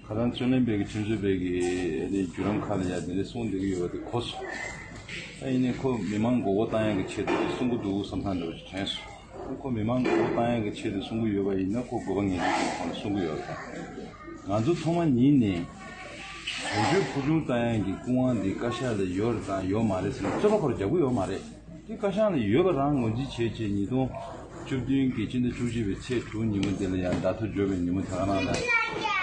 ཁ་སང་བརྩོན་ལེན་པའི་ཁྲིམས་རྩོད་པའི་གི་རེ་བརྒྱུད་རམ་ཁག་ལ་ཡང་དེ་འདྲའི་གསུངས་འདུག་གི་ཡོད་པ་དེ་གོ་སོང། ཨ་ཡིན་ནི་ཁོ་མི་མང་མགོ་བོ་བཏང་ཡག་གི་ཆེད་དུ་གསུང་གི་འདུག་བསམ་ཐང་འདྲ་བ་ཞིག་དྲན་སོང། ཨ་ཁོ་མི་མང་མགོ་བོ་བཏང་ཡག་གི་ཆེད་དུ་གསུང་གི་ཡོད་པ་ཡིན་ན་ཁོ་དགོས་པ་ངེས་ཅན་ཞིག་ཁོང་ལ་གསུང་གི་ཡོད་པ་དང། ང་ཚོ་ཐོག་མ་ཉིད་ནས་དོན་གཅོད་ཕུ་ཆུང་བཏང་ཡག་གི་སྐུ་དབང་འདི་བཀའ་ཤག་ལ་ཡོད་རེད་དང་ཡོད་མ་རེད་ཟེར་ན་རྩོད་པ་ཁོ་ར་རྒྱག་གི་ཡོད་མ་རེད། འདི་བཀའ་ཤག་ནས་ཡོད་པ་རང་ངོས་འཛིན་བྱེད་ཅེས་ཉིས་སྟོང་བཅུ་བདུན་གྱི་སྤྱི་ཟླ་བཅུ་བཞི་པའི་ཚེས་དྲུག་ཉིན་མོ་འདི་ལ་ཡང་བརྡ་ཐོ་འབྱོར་བའི་ཉིན་མོ་དེ་ག་ནང་ན་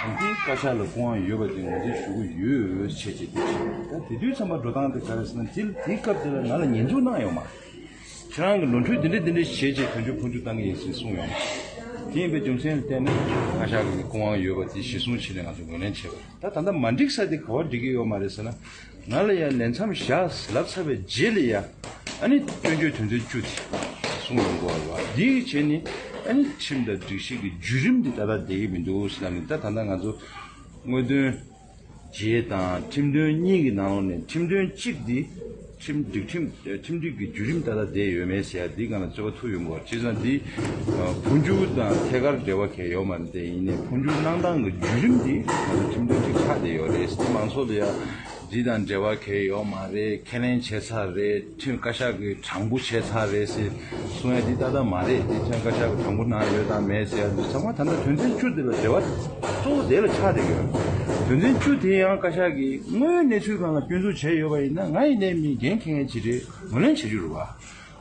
ཡང་འདི་བཀའ་ཤག་ལ་སྐུ་དབང་ཡོད་པ་དེ་ངོས་འཛིན་ཞུ་གི་ཡོད་བྱས་ཅེས་འདི་བྱས། ད་དེ་དུས་ཚང་མ་འགྲོ་སྟངས་དེ་ག་རེད་ཟེར་ན་དེ་དེའི་སྐབས་དེ་ལ་ང་ལ་ཉན་འཇུག་གནང་ཡོང་མ། ཁྱེད་རང་གི་ནོར་འཁྲུལ་འདི་འདྲ་འདི་འདྲ་བྱས་ཅེས་དོན་གཅོད་ཁོང་ཆུད་བཏང་གི་ཡིན་ཟེར་གསུངས་ཡོང་མ། དེ་ཡིན་པའི་རྒྱུ་མཚན་ལ་བལྟས་ན་བཀའ་ཤག་གིས་སྐུ་དབང་ཡོད་པ་དེ་གཞི་བཟུང་བྱས་ནས་ང་ཚོ་ངོས་ལེན་བྱས་པ་རེད་ད་ད་ལྟ་མ་འགྲིག་ས་དེ་ག་བ་འགྲིག་གི་ཡོད་མ་རེད་ཟེར་ན། ང་ལ་ཡང་ལས་མཚམས་བཞག་ལབ་ཚར་བའི་རྗེས་ལས་ཡ་ཨ་ནི་སྐྱོན་བརྗོད་དོན་ཚན་བཅུ་དེ་གསུངས་ཡོང་གོ་བ་འདིའི་རྗེས་ནི་ཨ་ནི་ཁྲིམས་དང་སྒྲིག་གཞི་གི་བརྒྱུད་རིམ་དེ་ད་ལྟ་བསྡད་ཀྱི་མི་འདུག་ཟེར་ན་མི་འདུག་ད་ད་ལྟ་ང་ཚོ་དངོས་དོན་རྗེས་དང་ཁྲིམས་དོན་གཉིས་ཀྱི་ནང་ལོགས་ནས་ཁྲིམས་དོན་གཅིག་འདི་ཁྲིམས་སྒྲིག་ཁྲིམས་སྒྲིག་གི་བརྒྱུད་རིམ་ད་ལྟ་བསྡད་ཡོད་མེད་ཟེར་ཡ་འདི་གང་ལ་རྩོད་པ་ཐུག་ཡོང་གོ་བ་བྱས་ཙང་འདི་འཕོ་འགྱུར་དང་ཐད་ཀར་འབྲེལ་བ་གལ་ཡོད་མ་རེད་དེ་ཡིན་ནའི་འཕོ་འགྱུར་གནང་སྟངས་ཀྱི་བརྒྱུད་རིམ་དེ་ཁྲིམས་དོན་ཅིག་ཆགས་བསྡད་ཡོད་རེད་སྲིད་མང་ཚོགས་ལ་ཡང་འདི་དང་འབྲེལ་བ་གལ་ཡོད་མ་རེད་ཁས་ལེན་བྱས་ཚར་རེད་ཁྲིམས་བཀའ་ཤག་གི་དྲང་པོ་བྱས་ཚར་རེད་ཟེར་གསུང་ཡ་འདི་ཏག་ཏག་མ་རེད་དེ་ཁྲིམས་བཀའ་ཤག་གི་དྲང་པོ་གནང་ཡོད་དང་མེད་ཟེར་ཡ་འདི་ཚང་མ་ད་ལྟ་དོན་ཚན་བཅུ་དེ་ལ་འབྲེལ་བ་གཙོ་བོ་དེ་ལ་ཆགས་བསྡད་ཡོད་དོན་ཚན་བཅུ་དེ་ཡང་བཀའ་ཤག་གིས་དངོས་ཡོད་གནས་ཚུལ་གང་ལ་སྐྱོན་འཛུགས་བྱས་ཡོད་པ་ཡིན་ན་ང་ཡི་ལས་མི་འགན་ཁེ་མཁན་གྱི་རེད་ངོས་ལེན་བྱེད་རྒྱུར་རུ་བ།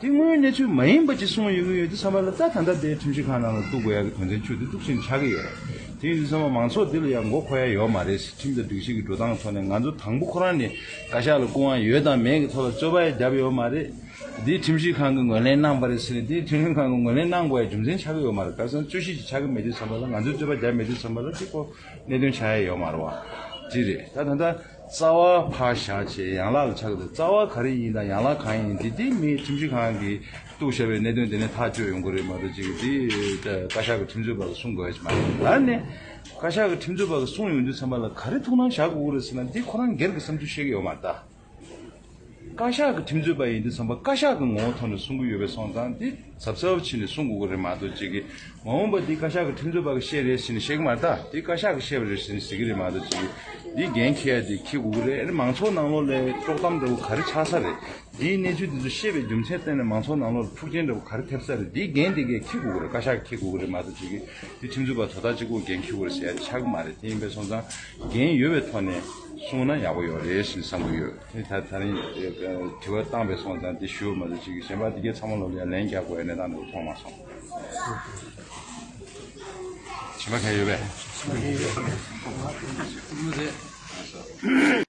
དེ་སྔོན་གནས་ཚུལ་མ་ཡིན་པ་ཅིག་གསུངས་ཡོང་གི་ཡོད་དུས་ཚང་མ་ལ་རྩ་ད་ལྟ་དེ་ཁྲིམས་ཞིབ་ཁང་ནང་ལ་གཏུགས་དགོས་ཡག་གི་དོན་ཚན་བཅུ་དེ་གཏུགས་ཕྱིན་ཆགས་གི་ཡོད། དེ་ཡིན་དུས་ཚང་མ་མང་ཚོགས་འདི་ལ་ཡང་མགོ་འཁོར་ཡ་ཡོད་མ་རེད་སྲིད་ཁྲིམས་དང་སྒྲིག་གཞི་གི་འགྲོ་སྟངས་ཐོག་ནས་ང་ཚོ་དང་པོ་ཁོ་རང་ནས་བཀའ་ཤག་ལ་སྐུ་དབང་ཡོད་དང་མེད་གི་ཐོག་ལ་རྩོད་པ་ཡ་རྒྱབ་ཡོད་མ་རེད། དེ་ཁྲིམས་ཞིབ་ཁང་གི་ངོས་ལེན་གནང་པ་རེད་ཟེར་ནས་དེ་ཁྲིམས་ཞིབ་ཁང་གི་ངོས་ལེན་གནང་དགོས་ཡ་རྒྱུ་མཚན་ཆགས་གི་ཡོད་མ་རེད་ཁ་སང་རྩོད་གཞི་ཅིག་ཆགས་གི་མེད་དུས་ཚང་མ་ལ་ང་ཚོས་རྩོད་པ་རྒྱབ་མེད་དུས་ཚང་མ་ལ་དེ་སྐོར་གནད་དོན་ཆགས་ཡ་ཡོད་མ་རེད་བ། དེ་རེད་ད་ད་ལྟ། རྩ་བ་ཕག་བཞག་ཅེས་ཡན་ལག་ལ་ཆགས་ཏེ་རྩ་བ་ག་རེ་ཡིན་དང་ཡན་ལག་གང་ཡིན་འདི་སྡེ་མིའི་ཁྲིམས་གཞི་གང་གིས་གཏུགས་བྱས་པའི་གནད་དོན་དེ་ནི་ཐག་གཅོད་ཡོང་གི་རེད་མ་གཏོགས་ཅིག་འདི་བཀའ་ཤག་གི་ཁྲིམས་རྩོད་པ་ལ་གསུང་དགོས་ཡ་ཅིག་མ་རེད། ད་ནི་བཀའ་ཤག་གི་ཁྲིམས་རྩོད་པ་ལ་གསུང་ཡོང་དུས་ཚང་མ་ལ་ག་རེ་ཐུགས་སྣང་བཞག་དགོས་ཀྱི་རེད་ཟེར་ན་འདི་ཁོ་རང་སྒེར་གྱི་བསམ་ཚུལ་བཤད་ཀྱི་ཡོད་མ་རེད། བཀའ་ཤག་གི་ཁྲིམས་རྩོད་པ་ཡིན་དུས་ཚང་མ་བཀའ་ཤག་གི་ངོ་བོ་ཐོག་ནས་གསུང་གི་ཡོད་པའི་སོང་ཙང་དེ་ཚབ་ཚབ་བྱས་ནས་གསུང་དགོས་ཀྱི་རེད་མ་གཏོགས་ཅིག་གིས་མ་འོངས་པ་འདི་བཀའ་ཤག་གི་ཁྲིམས་རྩོད་པ་གིས་བཤད་རེད་ཟེར་ནས་བཤད་ཀྱི་མ་རེད་ད་དེ་བཀའ་ཤག་གིས་བཤད་པ་རེད་ཟེར་ནས་ཟེར་གྱི་རེད་མ་གཏོགས་ཅིག་གིས་འདི་འགན་འཁྱེར་ཡ་དེ་འཁྱེར་དགོས་ཀྱི་རེད་མང་ཚོགས་ནང་ལོགས་ལས་དཀྲོག་གཏམ་འདྲ་བོ་ག་རེ་ཆགས་ས་རེད་འདིའི་གནས་ཚུལ་འདི་ཚོ་ཤེས་པའི་རྒྱུ་མཚན་བསྟན་ནས་མང་ཚོགས་ནང་ལོགས་ལ་འཁྲུག་རྐྱེན་འདྲ་བོ་ག་རེ་ཐེབས་ས་རེད་འདིའི་འགན་དེ་གས་འཁྱེར་དགོས་ཀྱི་རེད་བཀའ་ཤག་གིས་འཁྱེར་དགོས་ཀྱི་རེད་མ་གཏོགས་ཅིག་གིས་འདི་ཁྲིམས་རྩོད་པ་དོ་བདག་གཅིག་པོ་གས་འཁྱེར་དགོས་རེད་ཟེར་ཡ་དེ་ཆགས་ཀྱི་མ་རེད་དེ་ཡིན་པའི་སོང་ཙང་འགན་ཡོད་པའི་ཐོག་ནས། གསུངས་ན་ཡག་པོ་ཡོད་རེད་ཞེས་བསམ་གྱི་ཡོད། དེ་ད་ད་རིང་དྲི་བ་བཏང་བས་སོང་ཙང་དེ་ཞུ་མ་ཟེར་ཅིག་གཞན་པ་འདི་གའི་ཚང་མ་ལོ་ལེགས་ལན་རྒྱག་དགོས་ཡ་གནས་སྟངས་འདི་ལོ་མཐོང་མ་སོང། བྱིན་པ་མཁན་ཡོད་པས།